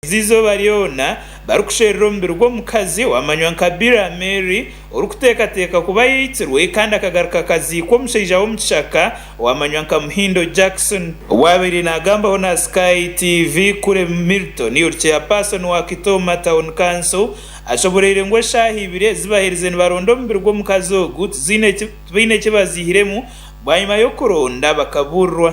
Ezi eizooba ryona barikusherura omubiri gw'omukazi owamanywa nka Bira Mary orikuteekateeka kuba yaitsirwe kandi akagaruka akaziikwa omushaija w'omukishaka owamanywa nka Muhindo Jackson. Owaabaire naagambaho na Sky TV, Kule Milton ori chairperson wa Kitooma Town Council ashoboreire ngu eshaaha ibiri ezi baherize nibaronda omubiri gw'omukazi ogu tibaine eki baziihiremu bwanyima y'okuronda bakabuurirwa.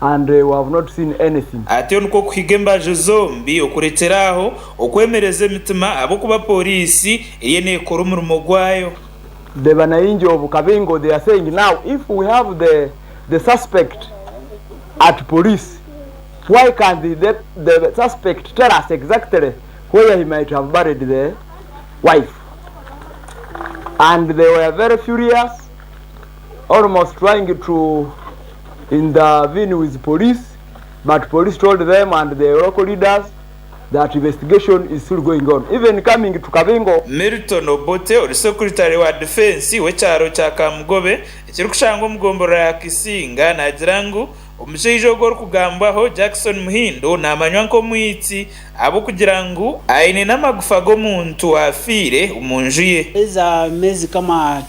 and we have not seen anything. Atyo nikwo kuhiga embaju zombi okurekyera aho okwemereza emitima ahabw'okuba Pooriisi eriyo neekora omurimo gwayo. The banaingi of Kabingo they are saying now if we have the the suspect at police why can't the the the suspect tell us exactly where he might have buried the wife and they were very furious. almost trying to intervene with police but police told them and the local leaders that investigation is still going on even coming to Kabingo. Milton Obote ori Sekuritale wa Difensi w'ekyaro kya Kamugobe ekirikushangwa omu gomborora ya Kisinga naagira ngu omushaija ogu orikugambwaho Jackson Muhindo naamanywa nk'omwitsi ahabw'okugira ngu aine n'amagufa g'omuntu aafiire omu nju ye. Eza mezi kama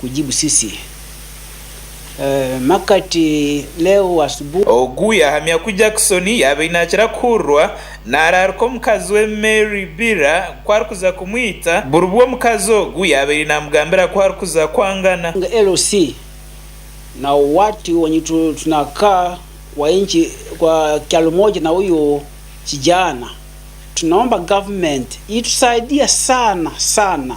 kugibusisi makati leo wa subu. Ogu yahamya ku Jackson yaabaire naakira kuhurirwa naaraarika omukazi we Mary Bira ku arikuza kumwita buribwo omukazi ogu yaabaire naamugambira ku arikuza kwangana. LC, Na watu wenye tunakaa kwa inchi kwa kyalo moja na uyu kijana tunaomba government itusaidia sana sana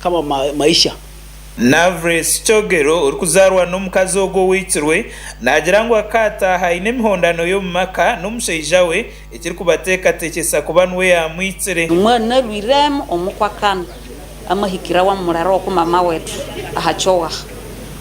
Kama Maisha. Navres Kyogero orikuzaarwa n'omukazi ogwo owicirwe, naagira ngu akaataaha aine emihondano y'omu maka n'omushaija we ekirikubateekateekyesa kuba niwe yaamwicire. Omwana narwireemu omukwa Kama amuhikira wa murara oku mama wetu aha kyowaha.